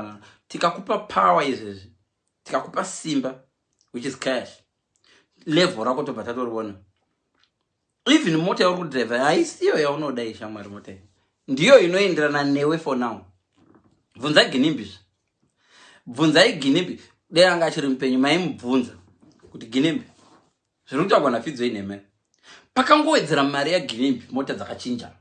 uh, tikakupa power izvezvi tikakupa simba which is cash level rako tobva tatoriona even mota yauri kudriver haisiyo yaunoda ishamwari mota iyi ndiyo inoenderana newe for now bvunza ginimbizve bvunzai ginimbi dei anga achiri mupenyu maimubvunza kuti ginimbi zviri kutaurwa nafidzo inheme pakangowedzera mari yaginimbi mota dzakachinja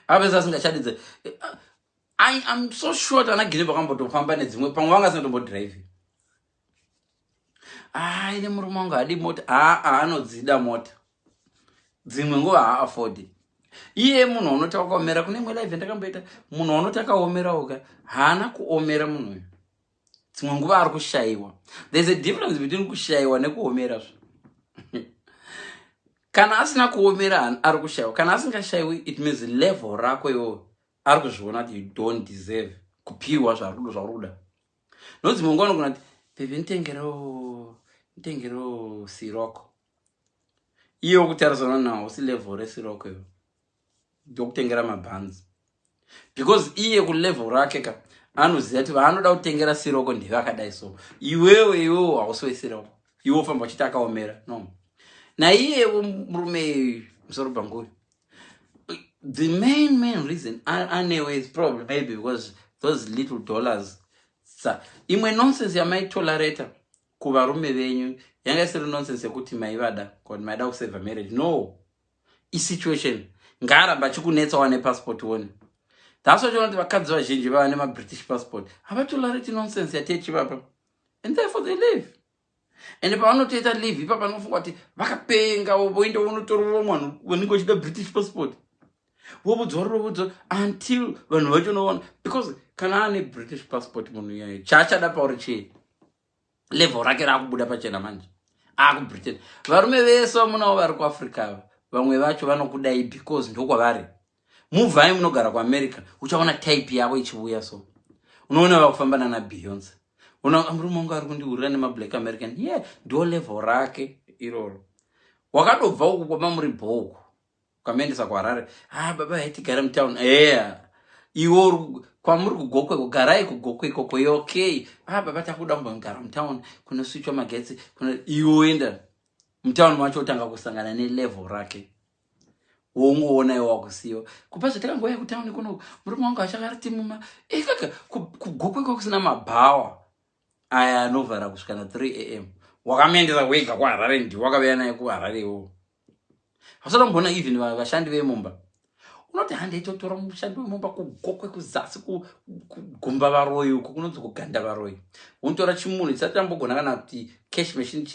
avese asingachadidze i am so short ana gine vakambotofamba nedzimwe pamwe vanga asinatombodriving haa ine murume wangu hadi mota haa anodzida mota dzimwe nguva haaafodi iye munhu anoti akaomera kune imwe live ndakamboita munhu anoti akaomerawoka haana kuomera munhu uyu dzimwe nguva ari kushayiwa there's a difference between kushayiwa nekuomera zvo kana asina kuomera ari kushayiwa kana asingashayiwi it means level rako iwo ari kuzviona kuti you don't deserve kupiwa zvarudo zvauri kuda no dzimwe nguva anogona kuti bhebhi nditengeroo nditengeroo siroko iye wokutarisana nawo usi level resiroko iwo ndokutengera mabhanzi because iye kulevel rake ka anoziva kuti vaanoda kutengera siroko ndeve akadai so iwewe iwewo hausi wesiroko iwe ofamba uchiti akaomera no naiyevo murume musoro bhanguyo the main main reason anewe is probably maybe because those little dollars sa imwe nonsense yamaitolerator kuvarume venyu yanga isiri nonsense yekuti maivada kut maida kusave marriage no isituation ngaaramba achikunetsa wane passport one thats why tiona kuti vakadzi vazhinji vava nemabritish passport havatolariti nonsense yatechivapa and therefore they live ende pavanotoita live ipa panofunga kuti vakapenga voenda vonotorova mwanhu vanenge vachida british passport vovudzwa rovudzwa until vanhu vacho noona because kana ane british passport munhu iyayo chaachada pauri chii level rake raakubuda pachena manje akubritain varume vese vamunawo vari kuafrica ava vamwe vacho vanokudai because ndokwavari muvhai munogara kuamerica uchaona type yavo ichivuya so unoona vakufamba nana beyonce ona murume wangu ari kundihurira nemablack american ye yeah, ndo level rake iroro wakadobva uku kwamamuri bhouku Ukamuendesa kuHarare, ah baba hai tigare mutown. Eya. Iwo kwamuri kugokwe kugarai kugokwe ikoko yo okay. Ah baba takuda kumbogara mutown kunoswitchwa magetsi kuno iwo oenda mutown macho otanga kusangana nelevel rake wongoona iwo wakusiyo kupa zvataka ngoya kutown kuno murume wangu achakariti muma ikaka eh, kugokwe kwakusina mabhawa aya anovhara kusvika na 3 am wakamuendesa wega kuharare ndi wakaveya naye kuharare iwowo vasati vamboona even vashandi vemumba unoti handei totora mushandi wemumba kugokwe kuzasi kugumba varoyi uko kunonzi kuganda varoyi unotora chimunhu chisati chambogona kana kuti cash machine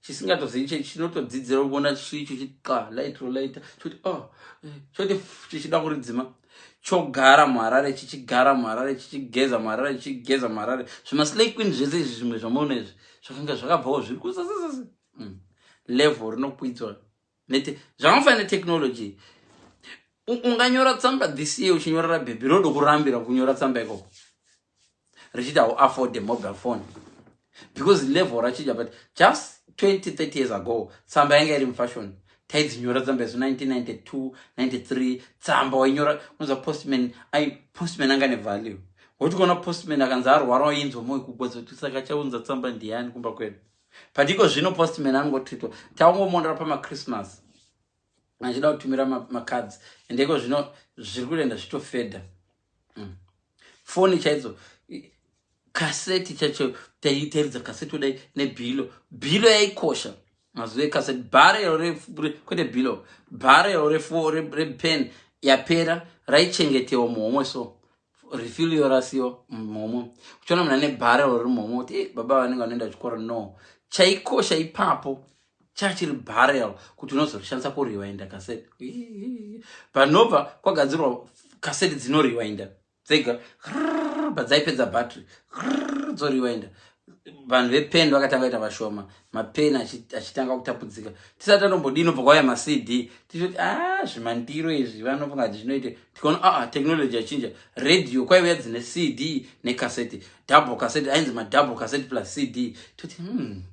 chisingatozivi che chinotodzidzira kuona chiicho chiqa light rolaita choti o oh, eh, choti chichida kuridzima chogara muharare chichigara muharare chichigeza muharare chichigeza muharare zvimaslay queen zvese izvi zvimwe zvamuona izvi zvakanga zvakabvawo zviri kuzazazazaa mm. level rinokwidzwa zvakafanira netechnology unganyora tsamba this year uchinyorera bhebhi rodo kurambira kunyora tsamba ikoko richiti hauafford mobile phone because level rachija but just 20 30 years ago tsamba yanga iri mufashion taidzinyora tsamba isu 1992 93 tsamba wainyora unoza postman ai postman anga nevalue woti kuona postman akanzi arwara wainzwa moyo kugwadza kuti saka chaunza tsamba ndiyani kumba kwedu but iko zvino postman anongotwitwa taungomonera pamachristmas achida kutumira macards and iko zvino zviri kuenda zvitofedha mm. foni chaidzo kaseti chacho taitaridza kaseti kudai nebhilo bhilo yaikosha mazuva ekaseti bharero kwete bhilo bharero repen yapera raichengetewa muhomwe so refill your rasio mhomo uchiona munhu ane barrel riri mhomo kuti eh, baba vanenge vanoenda chikoro no chaikosha ipapo chachiri barrel kuti unozorishandisa kuriwainda kaseti panobva kwagadzirwa kaseti dzinoriwainda dzega padzaipedza battery dzoriwainda vanhu vepeni vakatanga kuita vashoma mapeni achitanga kutapudzika tisati tatombodini obva kwauya macd tichiti a ah, zvimandiro izvi vanofunga kuti zvinoite tikaona aa ah, ah, technology yachinja radio kwaiuya dzine cd necaseti double caseti ainzi madouble caseti plus cd toti hmm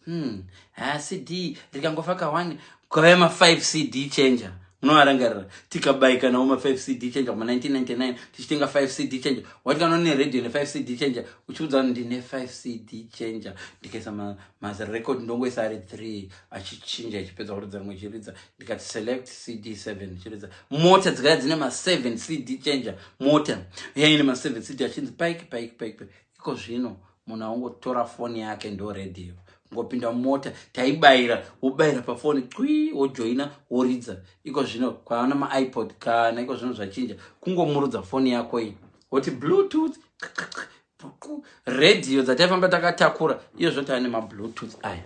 Hmm. Ah, CD rikangofa ka one kwave ma 5 CD changer. Munovarangarira tikabayika nawo ma 5 CD changer mu 1999 tichitenga 5 CD changer. Watikana ne radio ne 5 CD changer uchiudza kuti ndine 5 CD changer ndikaisa ma mas record ndongoisa ari 3 achichinja achipedza kuridza rimwe chiridza ndikati select CD 7 chiridza mota dzikaya dzine ma 7 CD changer mota yaine ma 7 CD achinzi pike pike pike pike iko zvino munhu aungotora foni yake ndo radio ngopinda mumota taibayira wobayira pafoni cwi wojoina woridza iko zvino kwaana maipod kana iko zvino zvachinja kungomurudza foni yako iyi woti bluetooth radio dzataifamba takatakura iyo zvotava nemabluetooth aya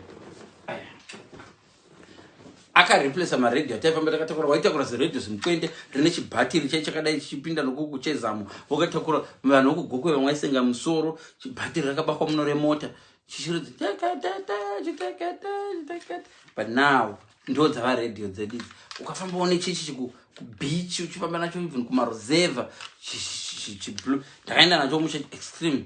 akareplace maradio ataifamba takatakura waitakura ziradio zimukwende rine chibhatiri chai chakadai chichipinda nokuku chezamo wakatakura vanhu vokugokwe vamwe waisenga musoro chibhatiri rakabakwa muno remota chichiridzi but now ndo dzava radio dzedu idzi ukafamba one chichi chikubeach uchifamba nacho even kumaruzeva chiblue ndakaenda nacho musha extreme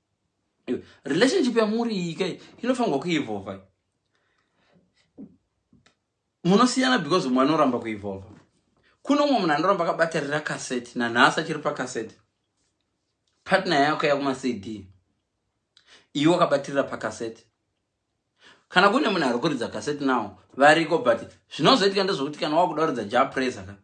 relationship yamuri iyi kai inofanirwa kuevolva munosiyana because mumwe anoramba kuevolva kuno umwe munhu anoramba akabatarira kaseti nanhasi achiri pakaseti partner yako yakumacd iwe wakabatirira pakaseti kana kune munhu ari kuridza kaseti nawo variko but zvinozoitika ndezvokuti kana wakuda kuridza japresa ka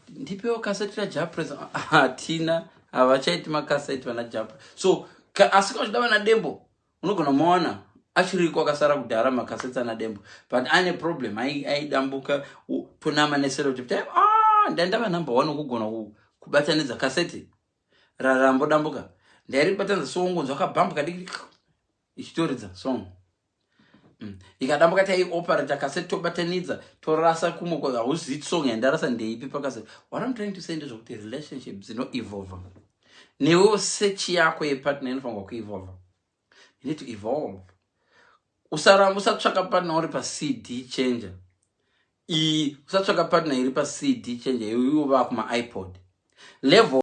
ndipewo kaseti rajapresa hatina havachaiti makaseti vana japre so ka, asi kana uchida vana dembo unogona mawana achiriko akasara kudhara makaseti ana dembo but ane problem aidambuka tonama neserotipi ah, ndaindava number one kugona kubatanidza kaseti rarambodambuka ndairibatanidza songonzwa kabhambu kadiki ichitoridza song mm. ikadambuka taioperata kaseti tobatanidza torasa kumwe kwa hauzivi song yandarasa ndeipi pakaseti what im trying to say ndezvokuti relationship dzinoevolva newewo sechi yako yepartner inofanirwa kuevolva you need to evolve usaramba usatsvaka partner uri pacd changer iyi usatsvaka partner iri pacd changer iwe vaa kumaipod level